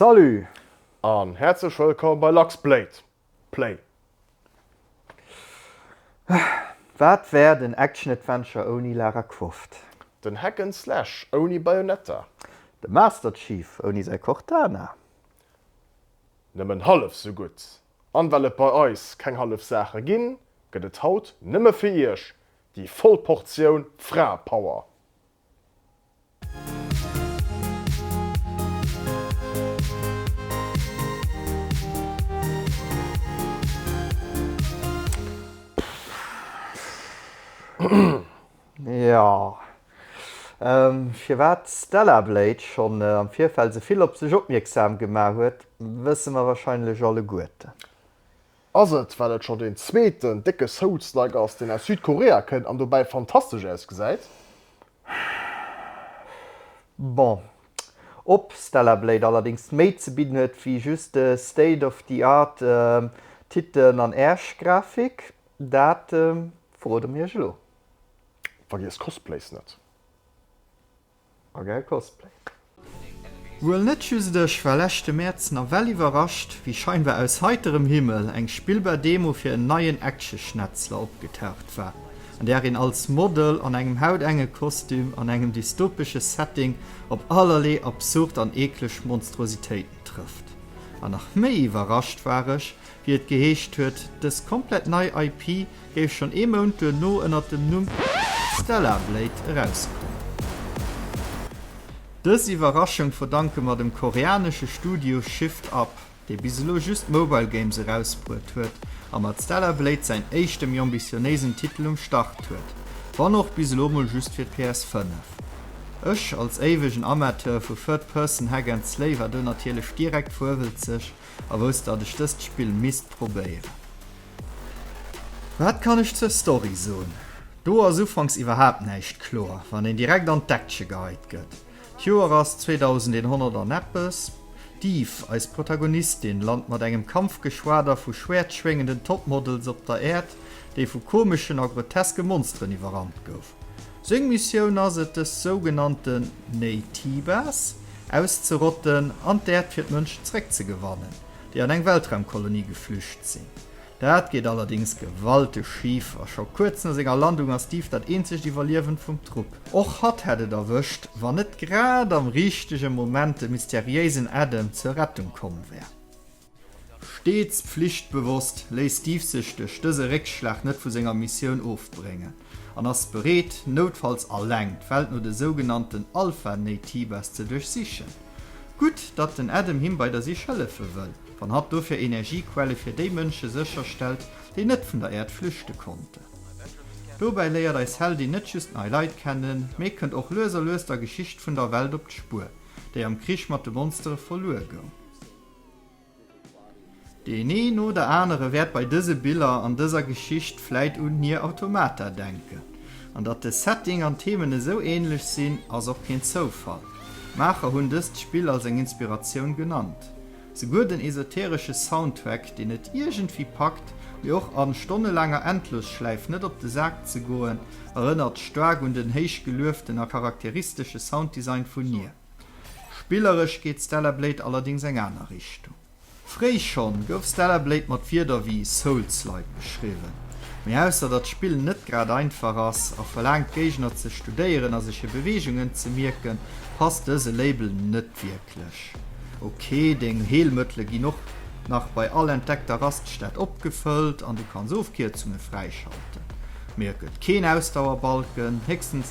Salut! An häerzlech wëllkomm bei Lux Blade Play! Wat wär den Action Adventure ouni Lara Croft? Den Hack and Slash ouni Bayonetta? De Master Chief ouni säi Cortana? Nëmmen hallef esou gutt! An well et bei eis keng hallef Saache ginn, gëtt et haut nëmme fir iech déi voll Portioun Fraepower! Jo, firwat d'Stella Blade schonn am Virfeld esou vill op sech opmierksam gemaach huet, wësse mer warscheinlech alleguerten. Ass et well et scho deen zweeten décke Souls-like ass deen aus Südkorea kënnt an dobäi fantastesch ausgesäit? Bon, ob Stellar Blade allerdéngs méi ze bidden huet wéi just state of the art Titen an Ärsch Grafik, dat verroden mir iech elo. Vergiesst Cosplays net! A gäil Cosplay. Wuel net just ech war leschte Mäerz nawell iwwerrascht, wéi scheinbar aus heiterem Himmel eng spillbar Demo fir en neien Action-Schnetzler opgetaucht war, an där een als Model an engem hautengen Kostüm an engem dystopesche Setting op allerlee absurd an eekleg Monstruositéiten trëfft. An nach méi iwwerrascht war ech, wéi et geheescht huet, dës komplett nei IP géif schonn ee Mount duerno ënner dem Numm Stellar Blade erauskommen. Dës Iwwerraschung verdanke mer dem koreanesche Studio Shift Up, dee bis elo just Mobile Games erausbruet huet a mat Stellar Blade säin éischte méi ambitionéisen Titel um Start huet, wann och bis elo mol just fir d'PS5. Ech als éiwegen Amateur vu Third-Person Hack and Slay war do natierlech direkt vuewelzeg. a wousst dat ech dëst Spill misst probéieren. Wat kann ech zur Story soen? Do ass ufanks iwwerhaapt näischt kloer, wann een direkt an d'Action geheit gëtt. D'Joer ass 2100 an eppes. D'Eve, eis Protagonistin, lant mat engem Kampfgeschwader vu schwäertschwéngenden Topmodels op der Äerd, déi vu komeschen a groteske Monsteren iwwerrannt gouf. Seng Missioun ass et dës sougenannte Naytibas auszerotten an d'Äerd fir d'Mënschen zeréckzegewannen, déi an eng Weltraumkolonie geflücht sinn. Dat geet allerdéngs gewalteg schif a scho kuerz no senger Landung ass d'Eve dat eenzegt Iwwerliewend vum Trupp. Och hatt hätt et erwëscht, wann net grad am richtege Moment de mysteriéisen Adam zur Rettung komm wär. Steets pflichtbewosst, léisst Diefsüchteg dëse Réckschlag net vu senger Missioun ofbréngen an ass bereet, noutfalls alleng, d'Welt no de sougenannten Alpha-Naytibas ze duerchsichen. Gutt, datt den Adam him bei der Sich hëllefe wëll, wann hatt dofir Energiequelle fir déi Mënsche sécherstellt, déi net vun der Äerd flüchte konnten. Dobäi léiert eis Heldin net just nei Leit kennen, mee kënnt och lues a lues der Geschicht vun der Welt op d'Spuer, déi am Krich mat de Monstere verluer goung. Deen een oder anere wäert bei dëse Biller an dëser Geschicht vläit un Nier Automata denken. An datt de Setting an d'Themen esou änlech sinn, ass och keen Zoufall. D'Maacher hunn dëst Spill als eng Inspiratioun genannt. Souguer den esoteresche Soundtrack, deen et iergendwéi packt, mir och a stonnelaanger Endlosschläif net op de Sak ze goen, erënnert staark un den héich gelueften a charakteristesche Sounddesign vun Nier. Spilleresch geet Stellar Blade allerdéngs eng aner Richtung. Fréi schonn gouf Stellar Blade mat Wierder wéi Souls-like beschriwwen, mee ausser datt d'Spill net grad einfach ass a verlaangt d'Géigner ze studéieren a sech hir Beweegungen ze mierken, passt dëse Label net wierklech. Ok, deng Heelmëttele ginn och nach bei all entdeckter Raststätt opgefëllt an du kanns Ofkierzunge fräischalten, mee et gëtt keen Ausdauerbalken, héchstens.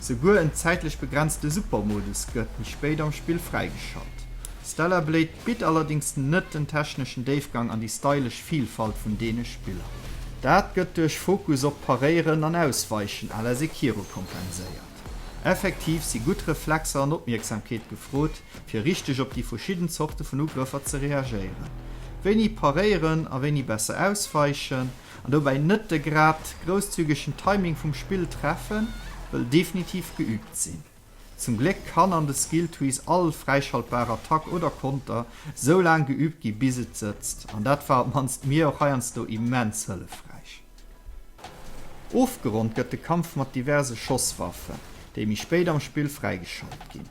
Souguer en zäitlech begrenzte Super-Modus gëtt méi spéit am Spill fräigeschalt. Stellar Blade bitt allerdéngs net den techneschen Déifgang an déi stylesch Vilfalt vun deene Spiller. Dat gëtt duerch Fokus op Paréieren an Ausweichen à la Sekiro kompenséiert. Effektiv si gutt Reflexer an Opmierksamkeet gefrot, fir richteg op déi verschidden Zorte vun Ugrëffer ze reagéieren. Wéini paréieren a wéini besser ausweichen? An dobäi net de grad grousszügegen Timing vum Spill treffen, wëll definitiv geübt sinn. Zum Gléck kann an de Skill Trees all fräischaltbar Attack oder Konter sou laang geübt gi bis et sëtzt, an dat war op mannst mir och heiansdo immens hëllefräich. Ofgeronnt gëtt de Kampf mat diverse Schosswaffen, déi méi spéit am Spill fräigeschalt ginn.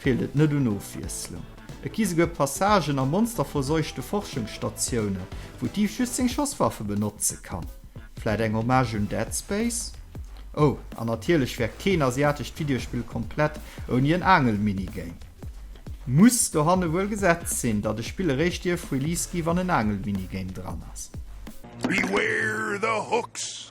Feelt et net un Ofwiesslung? Et gi souguer Passagen a monsterverseuchte Forschungsstatioune wou d'Eve just seng Schosswaffe benotze kann. Vläit eng Hommage un Dead Space? Oh, an natierlech wär keen asiatescht Videospill komplett ouni en Aangel-Minigame. Muss dohanne wuel gesetzt sinn, datt e Spill eréischt dierf Release gi wann en Aangel-Minigame dran ass. Beware the hooks!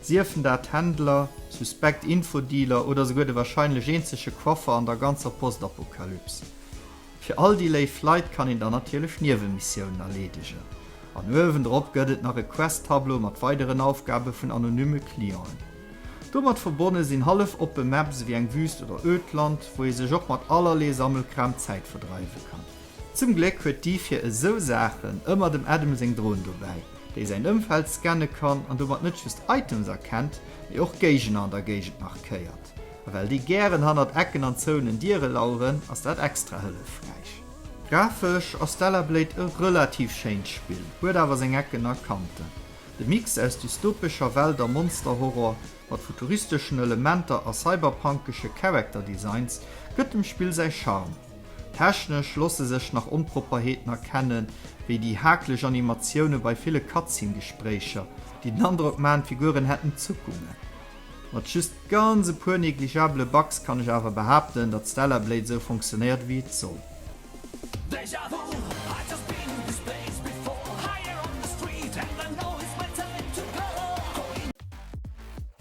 Siefen dat Händler, suspekt Infodealer oder souguer de wahrscheinlech eenzege Coiffer an der ganzer Postapokalyps. Fir all déi léif Leit kann een dann natierlech Niewemissiounen erleedegen. An uewendrop gëtt et nach e Quest-Tableau mat weideren Aufgabe vun anonymme Clienten. Domat verbonne sinn hallef-oppe Maps ewéi eng Wüst oder Ödland, wou ee sech och mat allerlee Sammelkram d'Zäit verdreiwe kann. Zum Gléck huet déi fir esou Saachen ëmmer dem Adam seng Drohn dobäi, déi säin Ëmfeld scanne kann an domat net just Items erkennt, mee och Géigner an der Géigend markéiert. A well déi gären hannert Ecken an zouenen Diere laueren, ass dat extra hëllefräich. Grafesch ass Stellar Blade e relativ schéint Spill, huet awer seng Ecken a Kanten. De Mix aus dystopescher Welt a Monster-Horror, mat futuristeschen Elementer a cyberpunkesche Character Designs, gëtt dem Spill säi Charme. Technesch losse sech nach Onpropperheeten erkennen, wéi déi hakeleg Animatioune bei ville Cutscene-Gespréicher, déi den Androck maachen, d'Figuren hätten Zuckungen. Mat just ganz e puer negligabele Bugs kann ech awer behaapten, datt Stellar Blade esou funktionéiert, wéi et soll.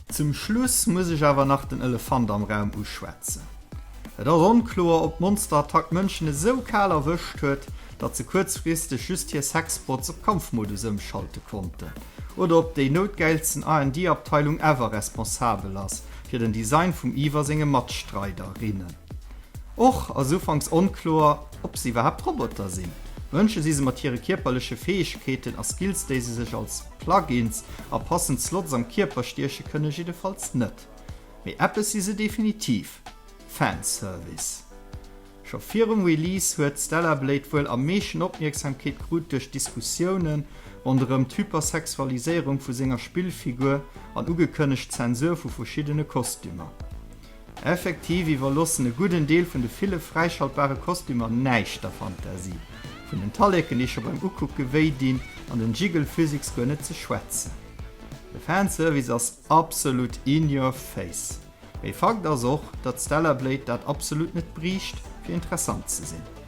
Zum Schluss muss ech awer nach den Elefant am Raum uschwätzen. Et ass onkloer, ob d'Monsterattack Mënschen esou kal erwëscht huet, datt se kuerzfristeg just hir Sexbots op Kampfmodus ëmschalte konnten, oder ob déi noutgäilsten R&D-Abteilung ever responsabel ass fir den Design vum Eve a senge Matstreiderinnen. Och ass ufanks onkloer, ob se iwwerhaapt Roboter sinn. Mënsche si se mat hire kierperleche Fäegkeeten a Skills, déi se sech als. Plug-ins a passend Slots am Kierper stieche kënne jiddefalls net. Mee eppes si se definitiv, Fanservice. Scho virum Release huet Stellar Blade wuel am meeschten Opmierksamkeet krut duerch d'Diskussiounen ronderëm d'Hypersexualiséierung vu senger Spillfigur an ugekënnegt Zensur vu verschiddene Kostümer. Effektiv iwwerloossen e gudden Deel vun de ville fräischaltbare Kostümer näischt der Fantasie. Vun den Talleken, déi scho beim Ukucke wéi dinn, an den Jiggle-Physics guer net ze schwätzen. De Fanservice ass absolut in your face. Mee Fakt ass och, datt Stellar Blade dat absolut net briicht, fir interessant ze sinn.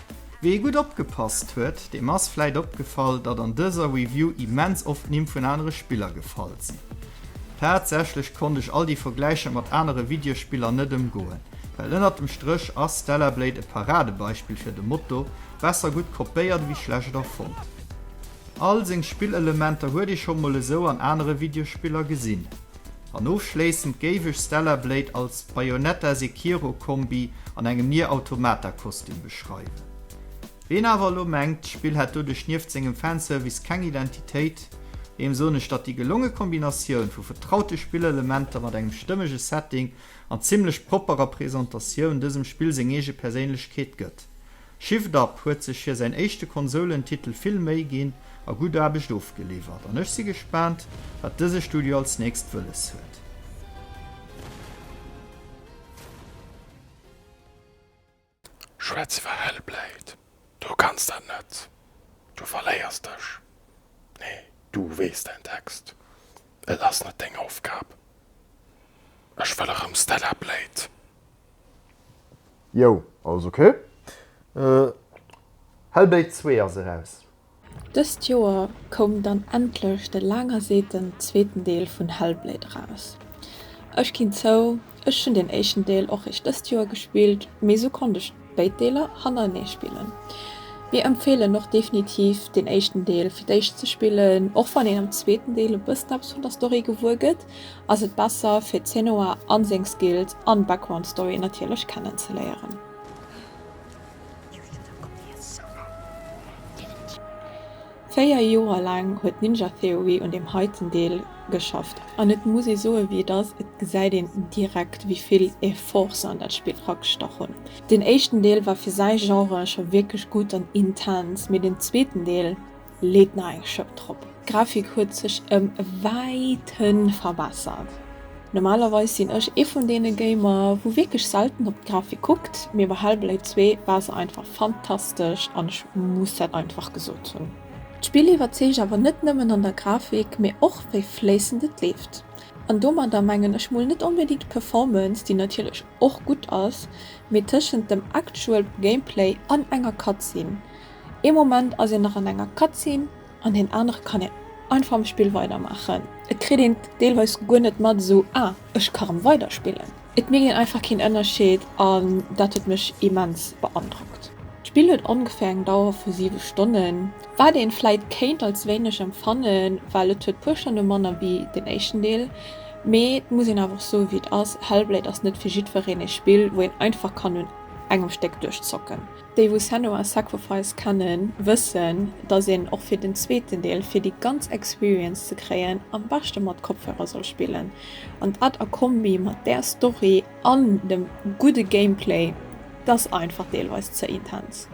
Wee gutt opgepasst huet, deem ass vläit opgefall, datt an dëser Review immens oft d'Nimm vun anere Spiller gefall sinn. Tatsächlech konnt ech all déi Vergläicher mat anere Videospiller net ëmgoen, well ënnert dem Stréch ass Stellar Blade e Paradebeispill fir de Motto, besser gutt kopéiert ewéi schlecht erfonnt. All seng Spillelementer huet ee scho mol esou an anere Videospiller gesinn. An ofschléissend géif ech Stellar Blade als Bayonetta-Sekiro-Kombi an engem Nier Automata-Kostüm beschreiwen. Ween awer elo mengt, d'Spill hätt doduerch nieft sengem Fanservice keng Identitéit, deem soen ech, datt déi gelonge Kombinatioun vu vertraute Spillelementer mat engem stëmmege Setting an zimmlech propperer Presentatioun dësem Spill seng eege Perséinlechkeet gëtt. Shift Up huet sech hir säin éischte Konsoulentitel vill Méi ginn a gutt Aarbecht ofgeliwwert an ech si gespaant wat dëse Studio als nächst wëlles huet. Schwätz iwwer Hellblade, du kanns dat net, du verléiers dech, nee du weess däin Text, et ass net deng Aufgab. Ech wëll erëm Stellar Blade Jo, alles ok. Hellbait 2 ass eraus. Dëst Joer koum dann endlech de laang erseeten zweeten Deel vun Hellblade eraus. Ech ginn zou, ech hunn den éischten Deel och réischt dëst Joer gespillt, mee esou konnt ech béid Deeler hannerenee spillen. Mir empfeelen och definitiv den éischten Deel fir d'éischt ze spillen, och wann een am zweeten Deel e bëssen eppes vun der Story gewuer gëtt. ass et besser fir Zenoa an seng Skills an Background Story natierlech kennen ze léieren. Véier Joer laang huet Ninja Theory un deem heiten Deel geschafft an et muss ee soe wéi et ass, et gesäit een direkt wéi vill Effort se an dat Spill ragestach hunn. Deen éischten Deel war fir säi Genre scho wierklech gutt an intens, mee den zweeten Deel, Leet nach eng Schëpp drop. D'Grafik huet sech em wäiten verbessert. Normalerweis sinn ech ee vun deene Gamer wou wierklech selten op d'Grafik kuckt, mee bei Hellblade 2 war se einfach fantastesch an ech muss dat einfach gesot hunn. D'Spill iwwerzeegt awer net nëmmen an der Grafik, mee och wéi fléissend et leeft. An domadder mengen ech mol net onbedingt d'Performance, déi natierlech och gutt ass, mee tëschent dem actual Gameplay an enger Cutscene, Ee Moment ass een nach an enger Cutscene an deen anere kann een einfach am Spill weidermaachen. Et kritt een deelweis guer net mat esou, ah ech ka rëm weiderspillen. Et mierkt een einfach keen Ënnerscheed an dat huet mech immens beandrockt. D'Spill huet ongeféier eng Dauer vu 7 Stonnen, wat een vläit kéint als wéineg empfannen, well et huet puer Stonne manner wéi den éischten Deel. Mee et muss een awer och soe wéi et ass, Hellblade ass net fir jiddwereen ee Spill wou een einfach kann un engem Stéck duerchzocken. Déi wou Senua's Sacrifice kennen wëssen dass een och fir den zweeten Deel fir déi ganz Experience ze kréien am beschte mat Kopfhörer soll spillen an dat a Kombi mat där Story an dem gudde Gameplay dass einfach deelweis ze intens.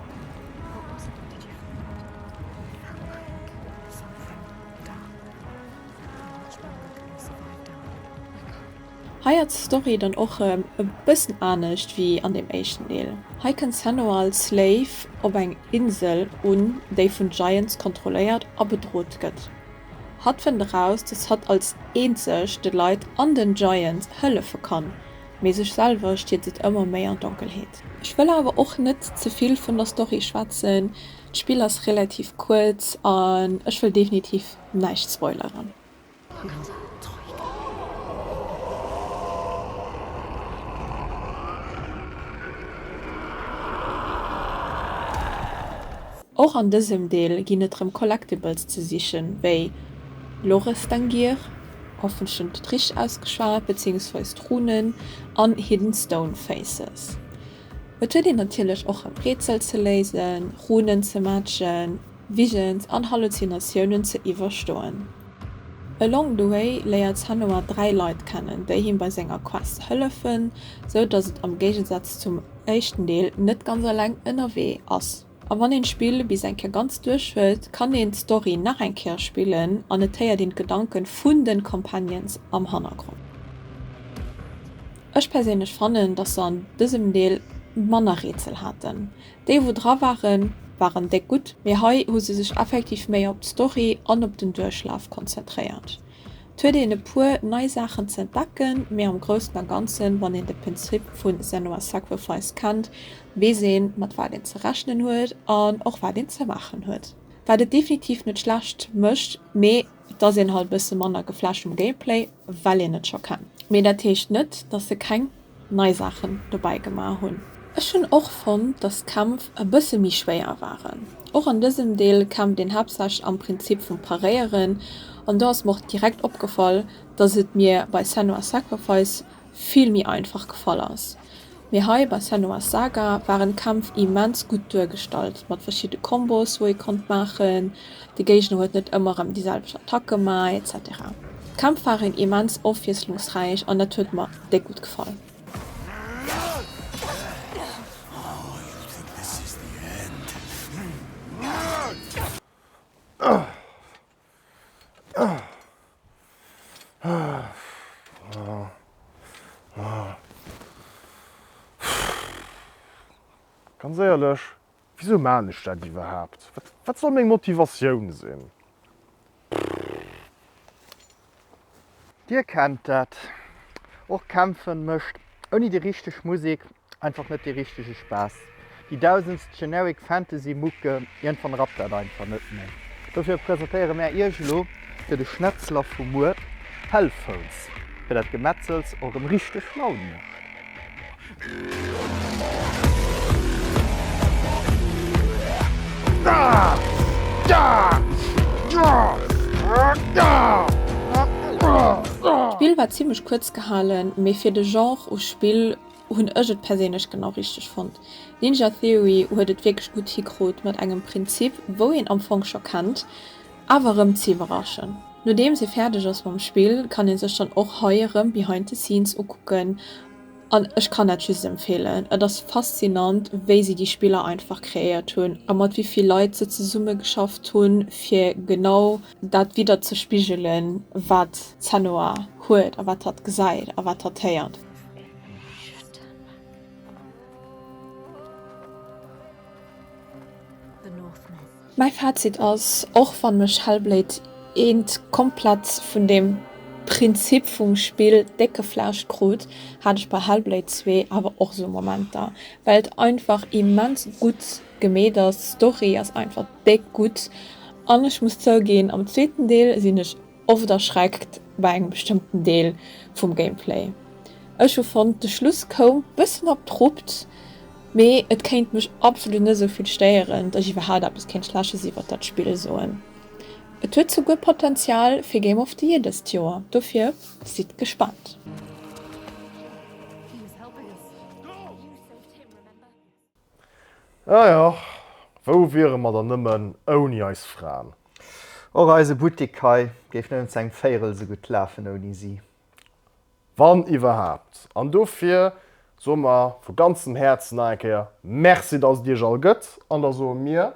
Hei ass d'Story dann och e bëssen anescht wéi an deem éischten Deel. Hei kënnt Senua als Slave op eng Insel un, déi vun Giants kontrolléiert a bedrot gëtt. Hatt fënnt eraus, dass hatt als eenzeg de Leit an den Giants hëllefe kann, mee sech selwer stierzt et ëmmer méi an d'Donkelheet. Ech wëll awer och net ze vill vun der Story schwätzen, d'Spill ass relativ kuerz an ech wëll definitiv näischt spoileren. Och an dësem Deel ginn et rëm Collectibles ze sichen, wéi Lorestangir, hoffentlech net richteg ausgeschwat, beziéungsweis d'Runen an Hidden Stone Faces. Et huet een natierlech och rëm Rätsel ze léisen, Runen ze matchen. Visions an Halluzinatiounen ze iwwerstoen. Along the way léiert Senua dräi Leit kennen, déi him bei senger Quest hëllefen, sou dass et am Géigesaz zum éischten Deel net ganz eleng ënnerwee ass. A wann een d'Spill bis eng Kéier ganz duerch huet, kann een d'Story nach eng Kéier spillen an et héiert een d'Gedanke vun de Companions am Hannergrond. Ech perséinlech fannen, dass se an dësem Deel manner Rätsel haten, Déi wou dra waren, waren déck gutt, mee hei hu se sech effektiv méi op d'Story an op den Duerchlaf konzentréiert. Et huet een e puer nei Saachen ze entdecken, mee am Groussen a Ganzen, wann een de Penzrip vu Senua's Sacrifice kennt, weess een mat wat een ze rechnen huet an och wat een ze maachen huet. Wat et definitiv net schlecht mécht, mee et ass een halt e bësse manner geflasht vum Gameplay, well een et scho kennt. Mee dat heescht net, dass se keng nei Saachen dobäi gemaach hunn. Ech hunn och fonnt, dass d'Kämpf e bësse méi schwéier waren. Och an dësem Deel kämpft een haaptsächlech am Prinzip vum Paréieren an do ass mer och direkt opgefall, dass et mir bei Senua's Sacrifice vill méi einfach gefall ass. Mee hei bei Senua's Saga waren d'Kämpf immens gutt duergestallt mat verschidde Combos, wou ee konnt maachen. de Géigner huet net ëmmer rëm déi selwecht Attack gemaach, etc. D'Kämpf waren immens ofwiesslungsräich an dat huet mer déck gutt gefall. Ganz éierlech, Wisou maan ech dat iwwerhaapt? Wat soll meng Motivatioun sinn? Dir kennt dat och, Kämpfen mécht ouni déi richteg Musek einfach net dee richtege Spaass. Déi dausendst generic Fantasy Mucke, iergendwann rappt dat einfach net méi. Dofir presentéiere mär iech elo fir de Schnetzler vu muer Hellphones, fir dat Gemetzels och erëm richteg Laun mécht. D'Spill war zimmlech kuerz gehalen, mee fir de Genre u Spill hunn ech et perséinlech genau richteg fonnt. Ninja Theory huet et wierklech gutt hikrut mat engem Prinzip wou een am Fong scho kennt, awer rëm ze iwwerraschen. Nodeems ee fäerdeg ass mam Spill kann ee sech dann och hei erëm Behind the Scenes ukucken. An ech kann dat just empfeelen. Et ass faszinant, wéi si déi Spiller einfach kreéiert hunn a mat wéi vill Leit se zesummegeschafft hunn, fir genau dat widderzespigelen, wat d'Senua huet a wat hatt gesäit a wat hatt héiert. Mäi Fazit ass, och wann mech Hellblade I komplett vun dem Prinzip vum Spill déck geflasht krut, hat ech bei Hellblade ii awer och sou Momenter, well et einfach immens gutt gemeet ass, d'Story ass einfach déck gutt an ech muss zouginn am zweeten Deel sinn ech Oft erschreckt bei engem bestëmmten Deel vum Gameplay. Ech hu fonnt de Schluss koum bëssen abrupt, mee et kéint mech absolut net esou vill stéieren, datt ech iwwerhaapt eppes kéint schleches iwwert dat Spill soen. Et huet souguer Potenzial fir Game of the Year dëst Joer, dofir sidd gespaant. Ah jo, wou wiere mer dann nëmmen ouni eis Fraen? Och eise Buttik hei géif nëmmen zu engem Véierel esou gutt lafen ouni si. Wann iwwerhaapt. An dofir soe mer vu ganzem Häerzen nach eng Kéier Merci, dass et iech all gëtt. An da soe mir.